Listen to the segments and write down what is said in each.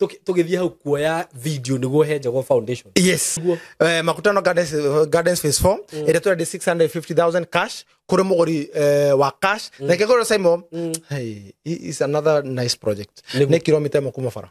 Tũki- tũgĩthiĩ hau kuoya video nĩguo he njago foundation yes Guo. eh, makutano gardens, eh, gardens phase 4 mm. ĩrĩa tũrendi 650000 cash kũrĩ mũgũri eh, wa cash mm. na kĩgũrũ saimo mm. hey, i- is another nice project Nĩguo. nĩ kilomita ĩmwe kuma bara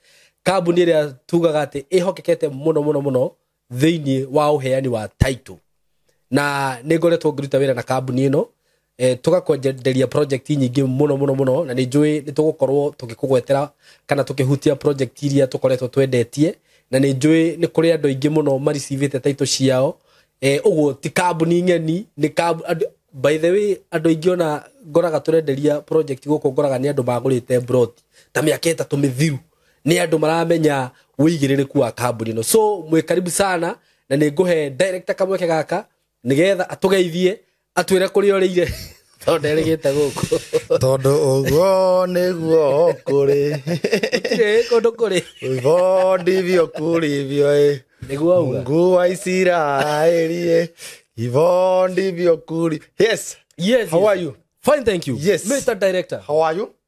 kambuni ĩrĩa tugaga atĩ ĩhokekete mũno mũno mũno thĩinĩ wa ũheani wa title na nĩ ngoretwo ngĩruta wĩra na kambuni ĩno eh, tũgakwenderia project nyingĩ mũno mũno mũno na nĩ njũĩ nĩ tũgũkorwo tũgĩkũgwetera kana tũkĩhutia project iria tũkoretwo twendetie na nĩ njũĩ nĩ kũrĩ andũ aingĩ mũno maricivĩte taito ciao eh uguo ti kambuni ng'eni ni kambu andũ- by the way andũ aingĩ ona ngoraga tũrenderia project gũkũ ngoraga nĩ andũ magũrĩte brot ta mĩaka ĩtatũ mĩthiru nĩ andũ maramenya wĩigĩrĩrĩku wa kambuni ĩno so mwĩ karibu sana na nĩ ngũhe director kamweke gaka nĩgetha atũgeithie atwĩre kũrĩa ũrĩire tondũ nderĩgĩte gũkũ tondå å guo nä guo kå rä Gũtirĩ kũndũ kũrĩ hivyo ndivyo kulivyo ä nĩguo uga mungu wa isiraeli ä hivyo ndivyo kuli yes yes, how yes. are you fine thank you Yes. mr director how are you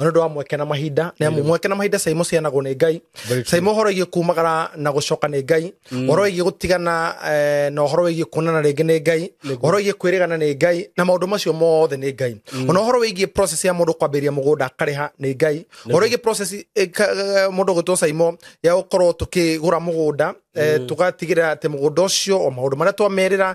nĩ ũndũ wa mweke na mahinda nĩ amu mweke na mahinda caimo cianagwo nĩ ngai Very true. caimo ũhoro wĩgiĩ kumagara na gũcoka nĩ ngai ũhoro wĩgiĩ gũtigana eh, na ũhoro wĩgiĩ kuonana rĩngĩ nĩ ngai ũhoro wĩgiĩ kwĩrĩgana nĩ ngai na maũndũ macio mothe nĩ ngai ona ũhoro wĩgiĩ process ya mũndũ kwambĩrĩria mũgũnda akarĩha nĩ ngai ũhoro wĩgiĩ process eh, ka- eh, mũndũ gwĩtwo caimo ya gũkorwo tũkĩgũra mũgũnda eh, tũgatigĩrĩra atĩ mũgũnda ũcio o maũndũ marĩa twamerĩra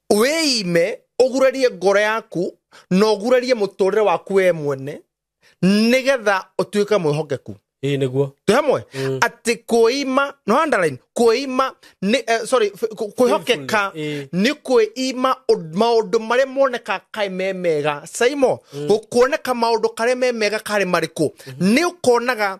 wĩime ũgurarie ngoro yaku na ũgurarie mũtũrĩre waku we mwene nĩgetha ũtuĩke mwĩhokeku ĩĩ nĩguo twĩ hamwe Mm. atĩ kwĩima no underline kwĩima nĩ eh, sorry f- kũ- kwĩhokeka Faithfulness, nĩ kwĩima ũd- maũndũ marĩa moneka kaĩ me mega saimo gũkuoneka maũndũ karĩa me mega karĩ marĩkũ nĩ ũkonaga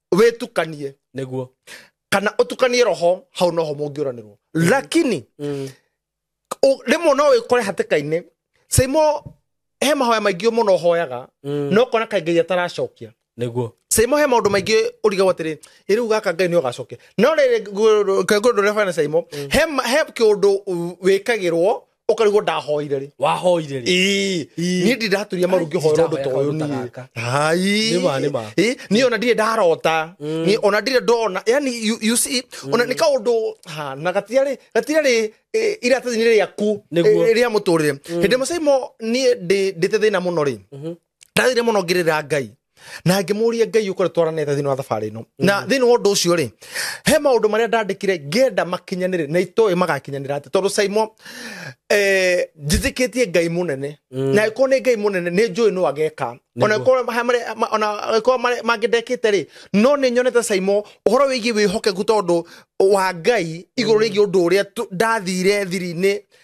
wĩtukanie nĩguo kana ũtukanie roho hau noho mũngĩũranĩrwo lakini Mm. ũ- rĩmwe no wĩkore hatĩka-inĩ saimo he mahoya maingĩ mũno ũhoyaga Mm. no kona kaĩ ngai ataracokia nĩguo saimo he maũndũ maingĩ ũrigagwo atĩrĩ ĩ rĩu gaka ngai nĩ ũgacokia no rĩrĩ ngũndũ rĩa bana saimo he ma- he kĩũndũ u- wĩkagĩrwo ũkarigwo ndahoire rĩ wahoire rĩ Ĩĩ, Ĩĩ. niĩ ndi ndaturia maru Ai, ngĩhoera ũndũ ta ũyũ ndahoya kaũndũ ta niĩ Hai. Nĩ ma, nĩ ma. Ĩĩ, niĩ ona ndirĩ ndarota Niĩ ona ndirĩ ndona yani you- you see, ona nĩ kaũndũ ha, na gatirarĩ gatirarĩ ĩ, iratathi-inĩ rĩaku Nĩguo. ĩ, rĩa mũtũrĩre hĩndĩ mũcaimo niĩ ndĩ- ndĩte thĩna mũno rĩ ndathire mũno ngĩrĩra ngai na ngĩmũria ngai ũkore twaranĩte thĩinĩ wa thabarĩ ĩno na thĩinĩ wa ũndũ ũcio rĩ he maũndũ marĩa ndandĩkire ngenda makinyanĩre na itoĩ magakinyanĩra atĩ tondũ saimo eh, njĩtĩkĩtie ngai mũnene na ĩkorwo nĩ ngai mũnene nĩ njũĩ no ageka ona ĩkorwo maha marĩa- ma- ona ĩkorwo marĩa mangĩ ndekĩte rĩ no nĩ nyonete saimo ũhoro wĩgiĩ wĩhokeku tondũ wa ngai igũrũ rĩgiĩ ũndũ ũrĩa tu- ndathire thiri-inĩ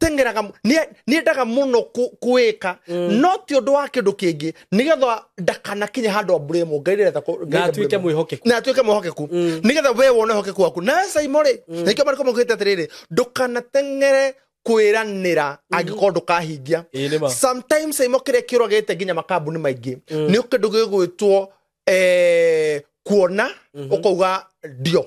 teng'eraga mu- nĩ- nĩendaga mũno kũ- kũĩka no ti ũndũ wa kĩndũ kĩngĩ nĩgetha ndakanakinye handũ amburĩmwo ngai ndĩretha kũ- Ngai Na atuĩke ndamburĩmwo. mwĩhokeku. na atuĩke mwĩhokeku nĩgetha we wone ũhokeku waku nawe saimo rĩ nĩkĩo marĩko maugĩte atĩrĩrĩ ndũkanateng'ere kwĩranĩra angĩkorwo ndũkahingia Ĩĩ, nĩ ma. sometimes saimo kĩrĩa kĩũragĩte nginya makambuni maingĩ nĩ kĩndũ gĩgwĩtwo eh, kuona ũkauga ndio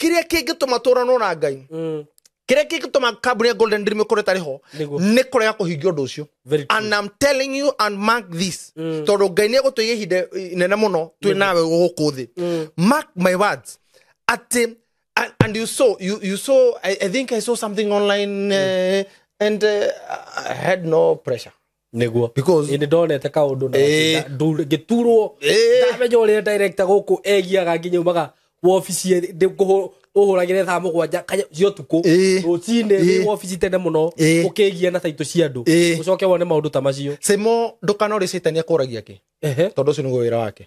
kĩrĩa kĩngĩtũma tũranwo na ngai Mm. kĩrĩa kĩngĩtũma kambuni ya golden dream ĩkore ĩtarĩ ho Nĩguo. nĩ kũrega kũhingia ũndũ ũcio Very true. and I'm telling you and mark this Mm. tondũ ngai nĩ egũtũiga ihinda inene mũno twĩ nawe gũkũ thĩ Mm. mark my words atĩ and, and you saw you, you saw I, I think I saw something online uh, and uh, I had no pressure niguo Because- ni ndonete kaundu na Eh. na- ndu- ngiturwo Eh. ndamenya uria director guku egiaga nginya umaga wobici uhuragire thaa mugwanja kanya cia utuku Eh. rucini Eh. wi wobici tene muno Eh. ukigia na taito cia andu Eh. ucoke wone maundu ta macio simo ndukanorisitania kuragia ki Ehe. tondu ucio niguo wira wake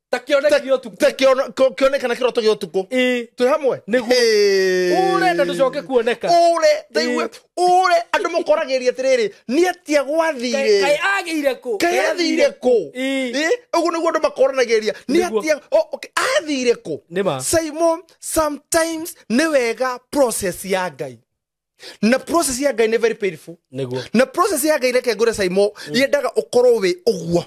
ta kione Ta- kio tu ta kĩono- kĩo- kĩonekana kĩroto gĩa ũtukũ i twĩ hamwe Nĩguo. Hey. urenda tucoke kuoneka ure ndaigua ure andå må koragä atä rä rä nä atia kai gwathire agire ku kaä athire kå Ii. å guo nä guo andå makoranagä ria nä Nĩguo. atia o- okay, athire kå Nĩ ma. simon sometimes nä wega process ya ngai na process ya ngai nä very painful nĩguo na process ya ngai reke ngure saimo yendaga ũkorwo wĩ ũguo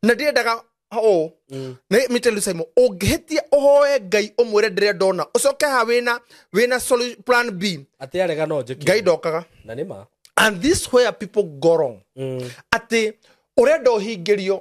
na ndĩendaga ũũ Mm. Nĩ- me tell you saimo ũngĩhĩtia ũhoe ngai ũmwĩre ndĩrĩa ndona ũcoke ha wĩna wĩna solu- plan b atĩ arega no njĩki ngai ndokaga na nĩ ma and this where people go wrong Mm. atĩ ũrenda ũhingĩrio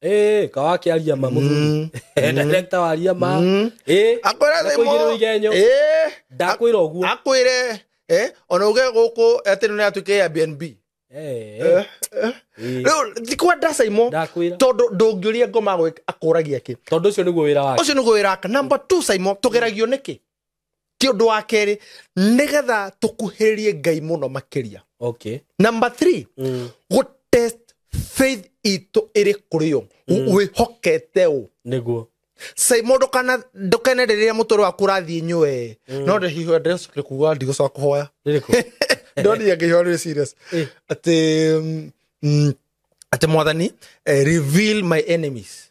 Eh, kawa akiaria ma muthuri director waria ma Eh, akwira thimo ndakuigĩrĩrwo igenyo eh ndakwĩra ũguo akwire eh ona uge guku ati ni atuke ya BNB Eh, eh, eh. riu thikwa ndasa imo ndakwĩra tondu ndungiuria ngoma gwĩ- akũragia ki tondå å cio nä guo wä ra wake ucio ni gwira ka number 2 saimo tugeragio niki ti ũndũ wa kerĩ nĩgetha tũkuhĩrĩrie ngai mũno makĩria okay number three mm. gũtest faith itũ ĩrĩ kũrĩ yo wĩhokete ũ nĩguo sai mũndũ kana ndũkene rĩrĩa mũtũrĩ waku ũrathiĩ nyue no ndĩhiho ndĩracokire kuga ndigũcoka kũhoya rĩrĩkũ ndonia ngĩhiho rĩ serious Eh. atĩ mm, mm, atĩ mwathani eh, reveal my enemies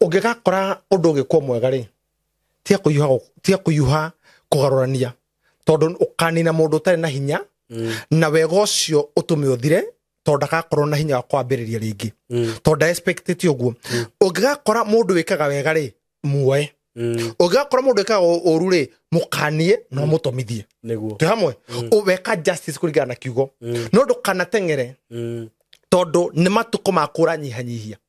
ũngĩgakora ũndũ ũgĩkwo mwega rĩ tiga kũhiũha gũ- tiga kũhiũha kũgarũrania tondũ ũkanina mũndũ ũtarĩ na hinya Mm, na wega ũcio ũtũme ũthire tondũ ndagakorwo na hinya wa kwambĩrĩria rĩngĩ mm, tondũ ndaexpectĩte ũguo ũngĩgakora mũndũ wĩkaga wega rĩ muoe mm, ũngĩgakora mũndũ wĩkaga ũ- ũru rĩ mũkanie no mũtomithie nĩguo twĩ hamwe Ũ- weka justice kũringana na kiugo Mm, no ndũkanateng'ere mm, tondũ nĩ matukũ ma kũranyihanyihia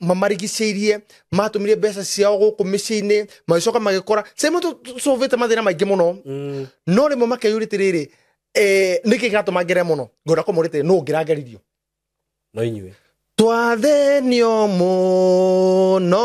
mamarigicĩirie matũmire mbeca ciao gũkũ mĩciĩ-inĩ magĩcoka magĩkora same tũcũvĩte mathĩna maingĩ mũno Mm. no rĩmwe makeyũria atĩrĩrĩ eh, nĩkĩ kĩratũma ngere mũno ngwenda kũmũria atĩrĩ nũ ngĩrangeririo no inyuĩ twathenio mũno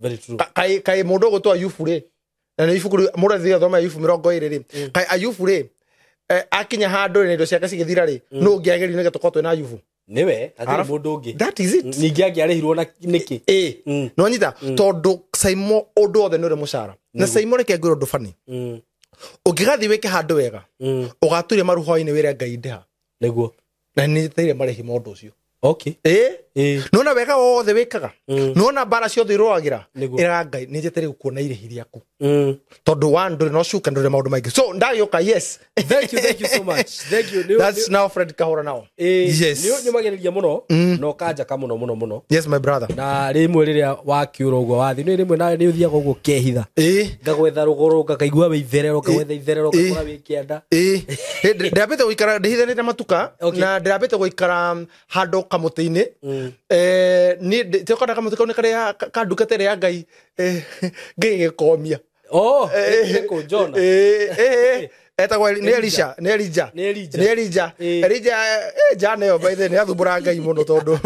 Very true. Ka- kaĩ kaĩ mũndũ ũgũtwa yubu rĩ na nĩ ibuku rĩ- mũndũ athiĩ athoma yubu mĩrongo ĩrĩ rĩ kaĩ ayubu rĩ eh, akinya handũ rĩ na indo ciake cigĩthira rĩ nũ ũngĩ agĩrire nĩgetha tũkorwo twĩ na ayubu nĩwe hatirĩ Arabu- mũndũ ũngĩ that is it ningĩ angĩarĩhirwo na nĩkĩ ĩ Mm. nä wanyita tondå caimo å ndå othe nä å rä må cara na caimo reke ngwä rå ndå bani Mm, å ngä gathiä wä ke handå wega mm, å gaturia maruhoinä wä re ngai ndä ha nĩguo na nä teire marä hi maå ndå å cio okay ä eh nona wega wothe wä kaga Mm. nona mbara ciothe irwagä ra Nĩguo. ä ra ngai nä njete rä gå kuona irä hi rä aku mm. tondå wa ndå rä no cuka ndå rä maå ndå maingä so ndagä å ka yes thank you thank you so much thank you Nĩ- That's nĩ- now Fred kahora nao eh, yes nĩ ũnyũmagĩrĩria mũno Mm. na ũkanjaka mũno mũno mũno yes my brother na rĩmwe rĩrĩa wakiũra ũguo wathi nĩ rĩmwe nawe nĩ ũthiaga ũguo kehitha ä ngagwetha rũgũrũ ngakaigua wĩ itherero ngagwetha itherero Ĩ. ngakora wĩ kianda Ĩĩ. Ĩ, ndĩ- ndĩrambĩte gũikara ndĩhithanĩte matuka Okay. na ndĩrambĩte gũikara mm, handũ kamũtĩ-inĩ Eh, niĩ ndĩ- tĩ ũkona kamũtĩ kau nĩ karĩa ka- ka ndungata ĩrĩa ya ngai eh, ngĩgĩkomia oh nĩ kũ Jonah Eh, eh, eh, etagwo Eli- nĩ elisha nĩ elija Nĩ Elija. nĩ elija Eh. elija eh, jana ĩyo baithe nĩ athumbũra ngai mũno tondũ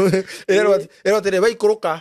ĩrerwo atĩrĩ waikũrũka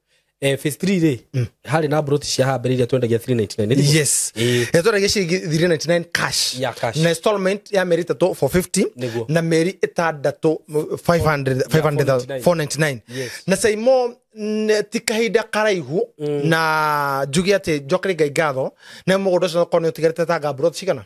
eh, phase 3 rĩ harĩ na broti cia hambere iria twendagia 399 nĩ thimũ? yes Ĩĩ. nä twendagia ciringi 399 cash Ya cash. na installment ya mä rä tatå 450 Nĩguo. na mä ri ä tandatå 499 Yes. na saimo n- ti kahinda karaihu na njuge atä njokere ngai ngatho na må gå nda å cio korwo nä å tigarä te tanga mburoti cigana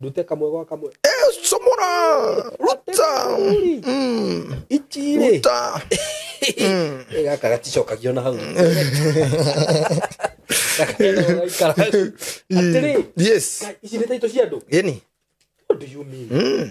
ndute kamwe gwa kamwe somora ruta Uri. Mm, ichire ruta Mm. gaka gaticokagio na hau gakaikara atĩrĩ yes ici nĩ taito cia andũ yani what do you mean mm.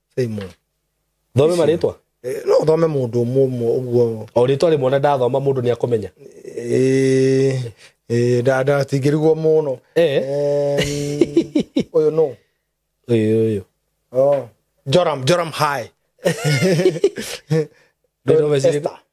Simon. thome marĩtwa Eh, no thome mũndũ ũmwe ũmwe ũguo o rĩtwa rĩmwe na ndathoma mũndũ nĩ akũmenya Eh, eh, nda- nda- tingĩrigwo mũno Eh. Em, ũyũ no ũyũ ũyũ Oh. joram joram high Ndĩrĩ ũmeciria- Esther.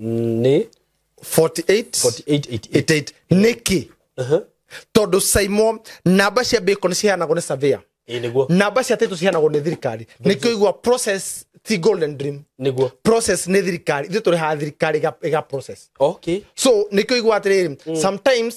nĩ 48 4888 nĩkĩ tondũ saimo namba cia bacon nĩ ciheanagwo nĩ savia ĩ nĩguo namba cia tĩtũ ciheanagwo nĩ thirikari nĩkĩo igua process ti golden dream nĩguo process nĩ thirikari ithuĩ tũrĩhaga thirikari ĩga- ĩga process okay so nĩkĩo igua atĩrĩrĩ sometimes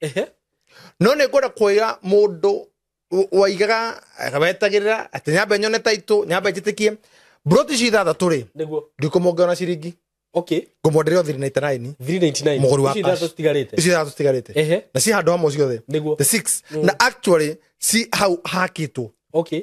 Ehe. no nä ngwenda kuoya må ndå waigaga wetagä rä ra atä nyambe nyone taitå nyambe njä tä kie mburoti ici ithathatå rä Nĩguo. ndikå monge ona ciringi Okay. ngå mwendere o thiri na itanaini 399. Mũgũri wa Ici cash. ithatũ citigarĩte. ici ithathatå citigarä te Ehe. na ci handå hamwe ciothe Nĩguo. the six na actually ci hau hakitwo Okay.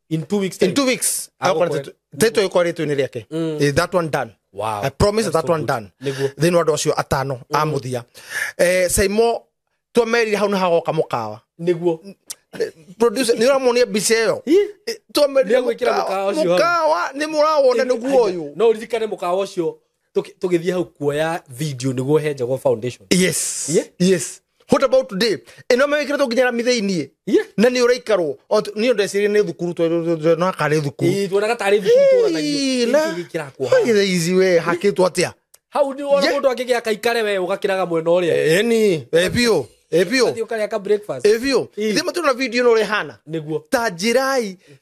in two weeks time. in two weeks Ako Ako kwanza kwe- tu- tetwa ikwa rĩtwa inĩ rĩake Mm. Eh, that one done Wow. I promise That's that so one good. done Nĩguo. thĩinĩ wa andũ acio atano a mũthia Eh, saimo twemerire hau nĩ hagoka mũkawa nĩguo producer nä å ramonia mbica ä yo Nĩegwĩkĩra mũkawa ũcio hau. mũkawa nä må rawona nä guo å yå no uririkane mukawa ucio Tũki- tũgĩthiĩ hau kuoya video nĩguo he njago foundation yes Yeah. yes what about today ĩno mewĩkĩrĩtwo nginya rami thĩiniĩ Yeah. na nĩ ũraikarwo O tu- niĩ ndecirie nĩ thukuru no akarĩ thukuru Ĩĩ, tuonaga tarĩ thukuru Ĩĩ, tũranagio na- Gĩkĩ gĩkĩrakwo haha. Hagĩthe ici we hakĩtwo atĩa hau nĩ wona Yeah. mũndũ angĩgĩa kaikare we ũgakĩraga mwena ũrĩa eni ebio ebio Ũgathiĩ ũkarĩa ka breakfast ebio Ĩĩ. ithe matũrona video ĩno ũrĩa ĩhana nĩguo ta njĩrai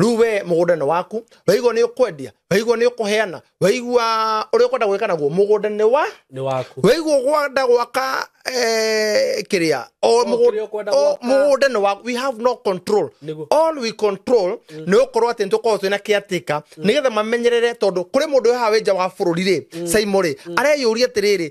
rĩu we mũgũnda nĩ waku waigua nĩ ũkwendia waigua nĩ ũkũheana waigua ũrĩa ũkwenda gwĩka naguo mũgũnda nĩ wa nĩ waku waigua ũkwenda gwaka eh, kĩrĩa o O mũgũ- kĩrĩa ũkwenda o gwaka. mũgũnda nĩ waku we have no control Nĩguo. all we control nĩ gũkorwo atĩ nĩtũkorwo twĩna caretaker nĩgetha mamenyerere tondũ kũrĩ mũndũ haha wĩ nja wa bũrũri rĩ saimo rĩ areyũria atĩrĩrĩ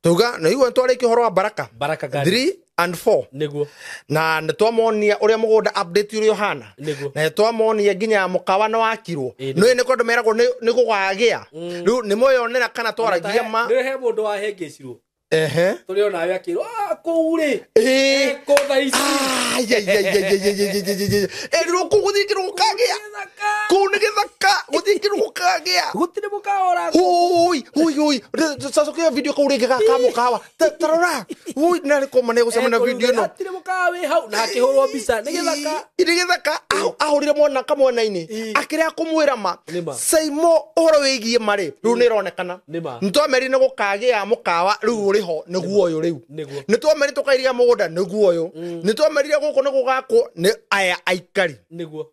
tuga na igua twarĩkia ũhoro wa baraka baraka gani 3 and 4 nĩguo na nĩ twamonia ũrĩa mũgũnda update ũrĩa ũhana Nĩguo. na nĩ twamonia nginya mũkawa nĩ wakirwo Ĩĩ, nĩguo. nĩ nĩ kũndũ meragwo nĩ- nĩ gũgagĩa rĩu nĩ mwĩyonera kana twaragia ma nĩwe he mũndũ wahengecirwo ehe tũrĩ ona we akĩrwo "Ah, kũu rĩ Ĩĩ. kũtha ici erirwo kũgũthingĩrwo gũkagĩa Kũu nĩ gĩthaka gũthiĩ kĩrũgũ kagĩa gũtirĩ mũkaora Oi, oi, oi. Sasa kwa video kwa urege kaka mukawa. Tarora. Oi, nari koma ne gusema na video no. Atire mukawa we hau na akihurwo bica. Ni githaka. Ni githaka. Ahurire mwana ka mwana ini. Akire akumwira ma. Saimo uhoro wigie mari. Riu ni ronekana. Ntwameri ne gukagia mukawa riu uri ho ni guo uyu riu. Ni twameri tukairiga mugunda ni guo uyu. Ni twamerire guku ni gugako ni aya aikari. Ni guo.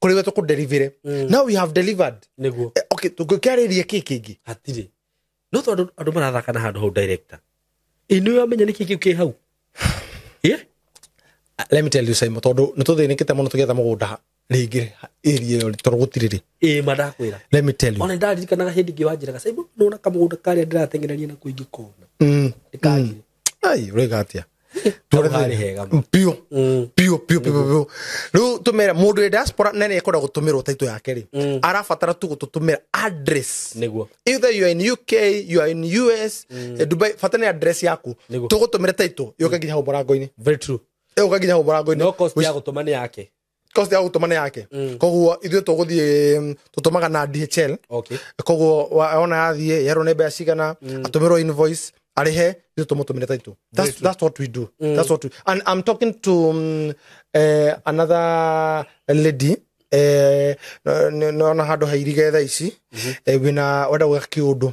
kuri we tukudelivire Mm. now we have delivered nĩguo Eh, okay tũngĩkĩarĩria kĩ kĩngĩ hatirĩ no tondũ andũ marathaka na handũ hau director inũĩ wamenya nĩkĩ kĩu kĩ hau Ĩ? let me tell you Simon tondũ nĩ tũthĩnĩkĩte mũno tũgĩetha mũgũnda rĩngĩ area ĩyo tondũ gũtirĩ rĩ ĩĩ ma ndakwĩra let me tell you ona ndaririkanaga hĩndĩ ĩngĩ wanjĩraga saibu nona kamũgũnda karĩa ndĩrateng'eraria na kũingĩ kona Mm, ndĩkagire ai rega atia Tore harĩ the- hega ma. biũ Mm. biũ biũ biũ biũ rĩu tũmere mũndũ wĩ diaspora na nĩ ekwenda gũtũmĩrwo taitũ yake rĩ Mm. arabatara tu gũtũtũmĩra address nĩguo either you are in uk you are in us eh, dubai bata nĩ address yaku Nĩguo. tũgũtũmĩre taitũ yũke nginya hau mũrango-inĩ very true yũke nginya hau mũrango-inĩ no cost ya gũtũma nĩ yake kosti ya gũtũmana yake Mm. koguo ithuĩ tũgũthiĩ mm, tũtũmaga na dhl okay koguo wa- ona yathiĩ yerwo nĩ mbeca cigana Mm. atũmĩrwo invoice arĩhe ithuĩ tũmũtũmĩre taitũ Very that's, true. that's what we do Mm. that's what we, and i'm talking to um, uh, another lady eh, no- no- nona handå hairige tha ici eh, wina wenda gwä ka kä å ndå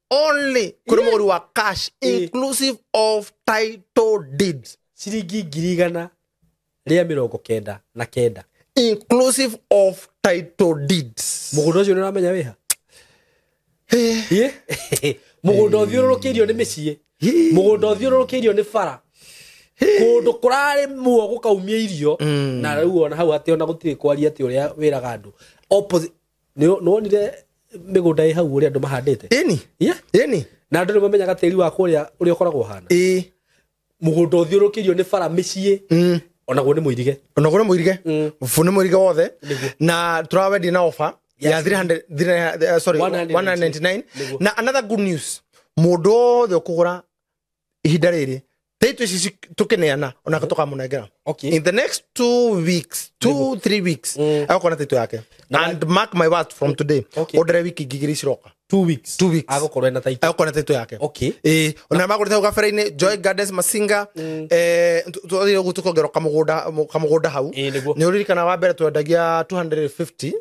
only kuri muguri wa cash Eh. inclusive of title deed ciringi ngiri igana rĩa mĩrongo kenda na kenda inclusive of title deeds mũgũnda ũcio nĩ ũramenya wĩha Ĩ? mũgũnda ũthiũrũrũkĩirio nĩ mĩciĩ mũgũnda ũthiũrũrũkĩirio nĩ bara kũndũ kũrarĩ muo gũkaumia irio na rĩu ona hau atĩ ona gũtirĩ kwaria atĩ ũrĩa wĩraga andũ Opposi- nĩwonire mĩgũnda ĩ hau ũrĩa andũ mahandĩte ĩni ĩni na andũ nĩmamenyaga tĩri wa kũrĩa ũrĩa ũkoragwo hana ĩ mũgũnda ũthiũrũkĩirio nĩ bara mĩciĩ mm. onaguo nĩ mũirige onaguo nĩ mũirige mm. bũ nĩ mũirige wothe na tũrawendia na ofa ya 300 eh, sorry 199 na another good news mũndũ wothe ũkũgũra ihinda rĩrĩ tĩitũ ici ci- tũkĩneana ona tũkamũnengera Okay. in the next two weeks two three weeks Mm. agũkona tĩitũ yake Na- and mark my words from today Okay. ũndere wiki ngigiri ciroka two weeks Two weeks. agũkorwo ena taitũ agũkona tĩitũ yake okay Eh, ona magũrĩte hau gabere-inĩ joy gardens masinga eh, tu- twathire ũguo tũkongerwo kamũgũnda kamũgũnda hau Ĩĩ, nĩguo. nĩ ũririkana wa mbere twendagia 250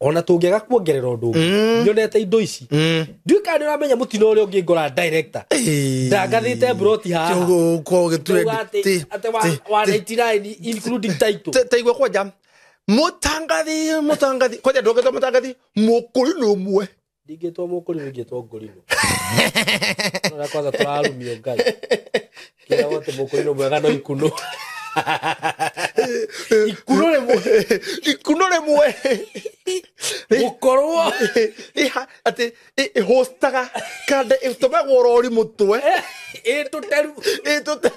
ona tũngĩaga kuongerera ũndũ ũngĩ Mm. nyonete indo ici Mm. ndiũĩ kana nĩ ũramenya mũtino ũrĩa ũngĩ ngora director Ĩĩ. ndangathĩte mburoti haha Kĩũgũ- kwa ũgĩture Ndauga atĩ- ti- atĩ wa- ti- wa ti- 99 including title Te- teigua kwanja mutangathi mutangathi kwanja ndũngĩtwa mutangathi mũkũyũ nĩ ũmwe ndingĩtwo mũkũri ndingĩtwo ngũrinũ ũrĩa kwanza tũrarumio ngai kĩra wote mũkũrinũ mwega no ikunũ ikunũ rĩmwe ikunũ rĩmwe gũkorwo atĩ ĩhũstaga kande ĩtũmagwo rori mũtwe ĩtũteru ĩtũteru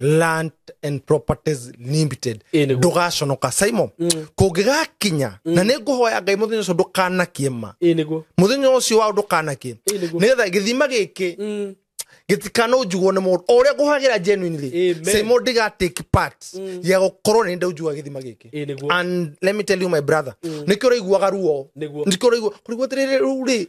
land and properties limited Ĩĩ nĩguo. ndũgaconoka simon kũngĩgakinya na nĩ ngũhoya ngai mũthenya ũcio ndũkanakie ma ä nä guo muthenya ucio wao ndukanakie Ĩĩ nĩguo. nigetha githima giki gitikanunjugwo ni mundu o uria nguhagira genuinely Amen. simo ndiga take part ya gukorwo ni ndaujuga githima giki Ĩĩ nĩguo. and let me tell you my brother nikio uraiguaga ruo Nĩguo. nikio uraigua kurigwo tiriri ru ri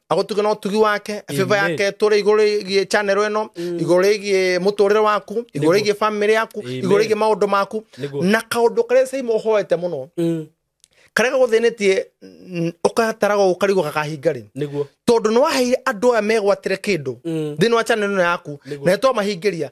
agotuge no tugi wake favor Amen. yake tore iguru igie channel eno iguru igie muturire waku iguru Niguo. igie family yaku Amen. iguru igie maundu maku Niguo. na kaundu karia sai muhoete muno Mm. karia gaguthinetie ukataraga ukarigwo gakahinga ri niguo tondu ni waheire andu aya megwatire kindu Mm. thiini wa channel ino yaku Niguo. na twamahingiria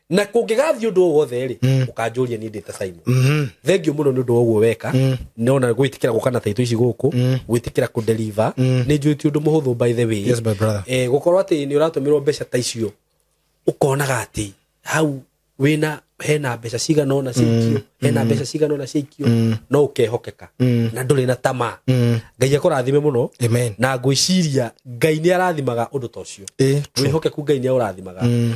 na kũngĩgathiĩ ũndũ o wothe-rĩ Mm. ũkanjũria niĩ ndĩ ta simon Mhm. thengiũ mũno nĩ ũndũ wa ũguo weka Mm. nona gwĩtĩkĩra gũka na taitũ ici gũkũ Mm. gwĩtĩkĩra kũnderiva Mm. nĩ njũĩ ti ũndũ mũhũthũ by the way Yes, my brother. eh, gũkorwo atĩ nĩ ũratũmĩrwo mbeca ta icio ũkonaga atĩ hau wĩna hena mbeca cigana ona ciaikio hena mbeca cigana ona ciaikio Mm. no ũkehokeka Mm. na ndũrĩ na tamaa Mm. ngai akũrathime mũno Amen. na ngwĩciria ngai nĩ arathimaga ũndũ ta ũcio Eh, true. wĩhokeku ngai nĩ aũrathimaga Mm.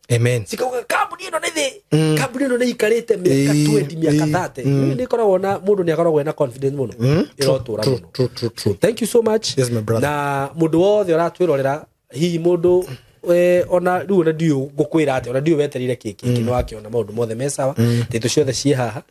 amen cikauga kambuni ĩno nĩ thĩ Mm. kambuni ĩno nĩ ikarĩte mĩaka Ĩĩ, 20 mĩaka ĩĩ, 30 mm. rĩu nĩ ĩkoragwo na mũndũ nĩ akoragwo ena confidence mũno Mm? ĩrotũra True, mũno true, true, true. thank you so much Yes, my brother. na mũndũ wothe ũratwĩrorera hihi mũndũ we, ona rĩu ona ndiũ ngũkwĩra atĩ ona ndiũ weterire kĩkĩ kĩ nĩ wakĩona maũndũ mothe me sawa tĩtũ ciothe ciĩ haha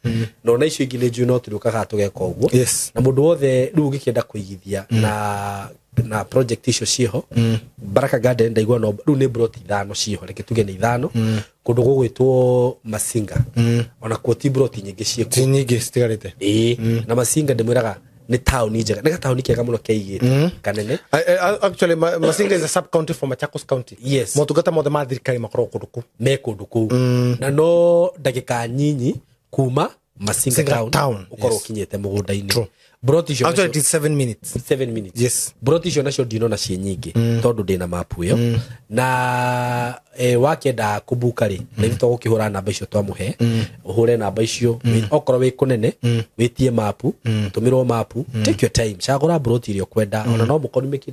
na ona icio ingĩ nĩ njui no tũrĩũkaga tũgeka ũguo Yes. na mũndũ wothe rĩu ũngĩkĩenda kũigithia na na project icio ciĩho mm. baraka garden ndaigua no rĩu nĩ brot ithano ciĩho reke tuge nĩ ithano mm. kũndũ gũgwĩtwo masinga mm. ona kuo ti brot nyingĩ ciĩkuo ti nyingĩ citigarĩte ĩĩ mm. na masinga ndĩmwĩraga nĩ taũni njega nĩ gataũni kega mũno keigĩte mm. kanene I, I, actually ma, masinga is a sub county for machakos county yes motungata mothe ma thirikari makoragwo kũndũ kũu me kũndũ kũu mm. na no ndagĩka nyinyi kuma Masinga Masinga town, Town, ukorwo yes. ukinyite mugunda-ini True. broti icio Actually, nacio- it is seven minutes. seven minutes Yes. broti icio nacio ndinona ciĩ nyingĩ tondũ ndĩ na mapu ĩyo na eh, wakenda kũmbuka rĩ na ithuĩ tũgũkĩhũra namba icio twamũhe ũhũre namba icio wĩ- okorwo wĩ kũnene wĩtie mapu tũmĩrwo mapu take your time cagũra broti iria ũkwenda ona no mũkorwo nĩ mĩkĩ-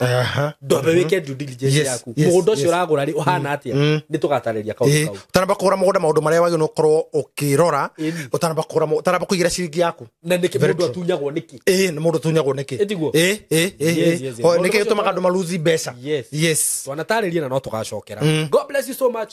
Aha. ndwambe wä ke due diligence Yes, yaku yes, må gå nda å cio yes. å ragå rä å hana atä Mm. nä tå gatarä ria kaå Ĩĩ, kau ũtanamba kũgũra mũgũnda maũndũ marĩa wagĩrĩirwo nĩ gũkorwo ũkĩrora Ĩĩ. ũtanamba kũgũra mũgũ- ũtanamba kũigĩra ciringi yaku na nä kä Very må ndå true. atunyagwo nä kä ĩĩ nĩ mũndũ tunyagwo nĩkĩ Ĩtiguo? Ĩĩ, ĩĩ, ĩĩ, Yes, yes, ĩĩ. yes. Ho, Maũndũ nĩkĩ macio gĩtũmaga andũ maruthi mbeca Yes. yes twanatarä ria na no tå gacokera Mm. god bless you so much